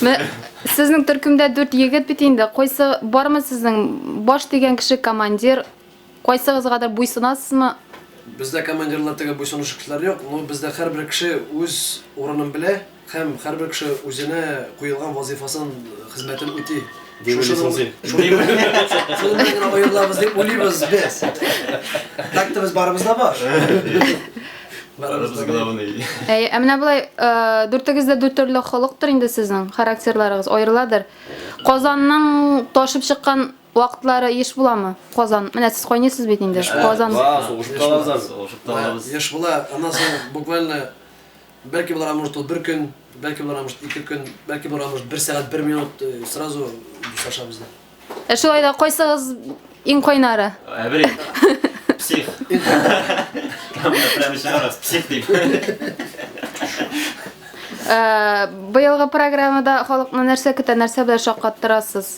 Ме, сезнең төркемдә дүрт егет бит инде. Кайсы бармы сезнең баш дигән кеше командир? Кайсыгызгадыр буйсынасызмы? Бездә командирлар теге буйсынучы кешеләр юк, но бездә һәрбер кеше үз урынын белә. Һәм һәрбер кеше үзенә куелган вазыйфасын, хезмәтен үти. Дип уйлыйсың син. Шуның белән генә аерылабыз дип уйлыйбыз без. Так-то без барыбыз да бар. Барыбыз главный. Әй, ә менә болай дүртегез дә дүрт төрле холыктыр инде сезнең, характерларыгыз аерыладыр. Казанның ташып чыккан вакытлары еш буламы? Казан. Менә сез кайнысыз бит инде. Казан. Ва, сугышып калабыз. Сугышып калабыз. Еш була. Аннан соң буквально Бәлки булыр, а может ул бер көн, бәлки булыр, а может ике көн, бәлки булыр, а может бер сәгать, бер минут э, сразу дуслашабыз да. Ә шулай да кайсыгыз иң кайнары? Әбри. Псих. Там прямо сейчас псих дип. Ә, Быелгы программада халыкны нәрсә көтә, нәрсә белән шаккаттырасыз?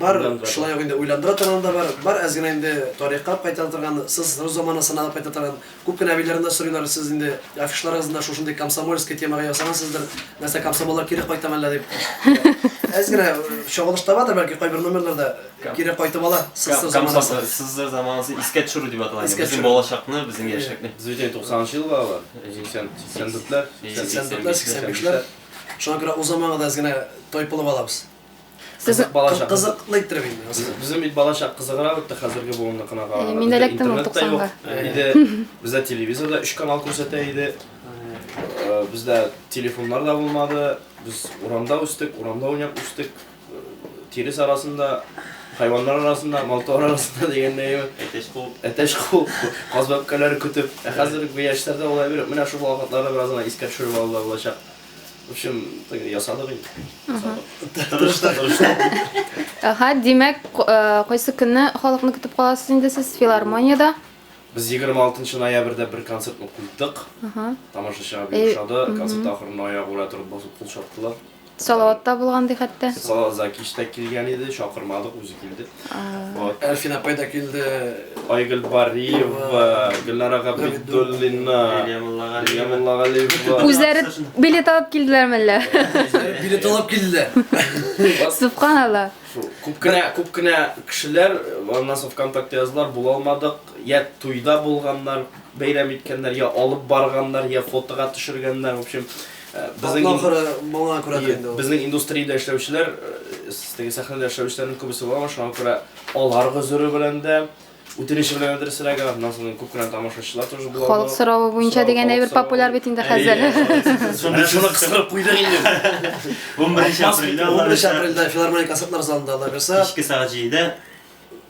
Бар, шулай ук инде уйландыра торган да бар. Бар, әз генә инде тарихка кайтара торган, сез рус заманасына алып кайтара торган. Күп кенә әбиләрем дә сорыйлар, сез инде афишларыгызны да шушындый комсомольский темага ясагансыздыр, нәрсә комсомоллар кире кайтамы әллә дип. Әз генә чагылыш табадыр бәлки кайбер номерларда кире кайтып ала СССР заманасы. СССР заманасы искә төшерү дип атала. Безнең балачакны, безнең яшьлекне. Сез бит 90 ел балалар, 84-ләр, 84-ләр, 85-ләр. Шуңа күрә узамагы да әз генә тайпылып алабыз. Кызык балачак. Кызыклы иттереп инде. Безнең бит балачак кызыграк үтте хәзерге буынныкына караганда. Мин эләктем ул 90-га. Иде. Бездә телевизорда 3 канал күрсәтә иде. Бездә телефоннар да булмады. Без урамда үстек, урамда уйнап үстек. Тирес арасында, хайваннар арасында, малтуар арасында дигәндәй. Әтәч кул. Әтәч кул. Каз бәбкәләре көтеп. Ә хәзерге яшьләрдә улай биреп, менә шул вакытларны бераз гына искә төшереп алды булачак. В общем, так ясадык инде. Ясадык. Тырышта, тырышта. Ага, димәк, э, кайсы көнне халыкны көтеп каласыз инде сез филармониядә? Без 26 ноябрьдә бер концертны куйдык. Ага. Тамашачыга бик ошады. Концерт ахырында аягы белән торып басып кул чаптылар. Салаватта булган ди хәтта. Салават Закиш та килгән иде, чакырмадык, үзе килде. Әлфин апай да килде. Айгөл Бариева, Гөлнара Габидуллина, Лилия Муллагалиева. Үзләре билет алып килделәр мәллә? Билет алып килделәр. Субханалла. Күп кенә, күп кенә кешеләр аннан соң ВКонтакте яздылар, була алмадык. Я туйда булганнар, бәйрәм иткәннәр, я алып барганнар, я фотога төшергәннәр, в общем. Безнең ахыры моңа күрә инде ул. Безнең индустриядә эшләүчеләр, теге сәхнәдә эшләүчеләрнең күбесе бар, шуңа күрә алар гозере белән дә, үтенече белән дә рәсәләгән, аннан соң күп кенә тамашачылар тоже булалар. Халык соравы буенча дигән әйбер популяр бит инде хәзер. Шуны шуны кыстырып куйдык инде. 11 апрельдә 11 апрельдә филармония концертлар залында алабыз. Кичке сәгать 7-дә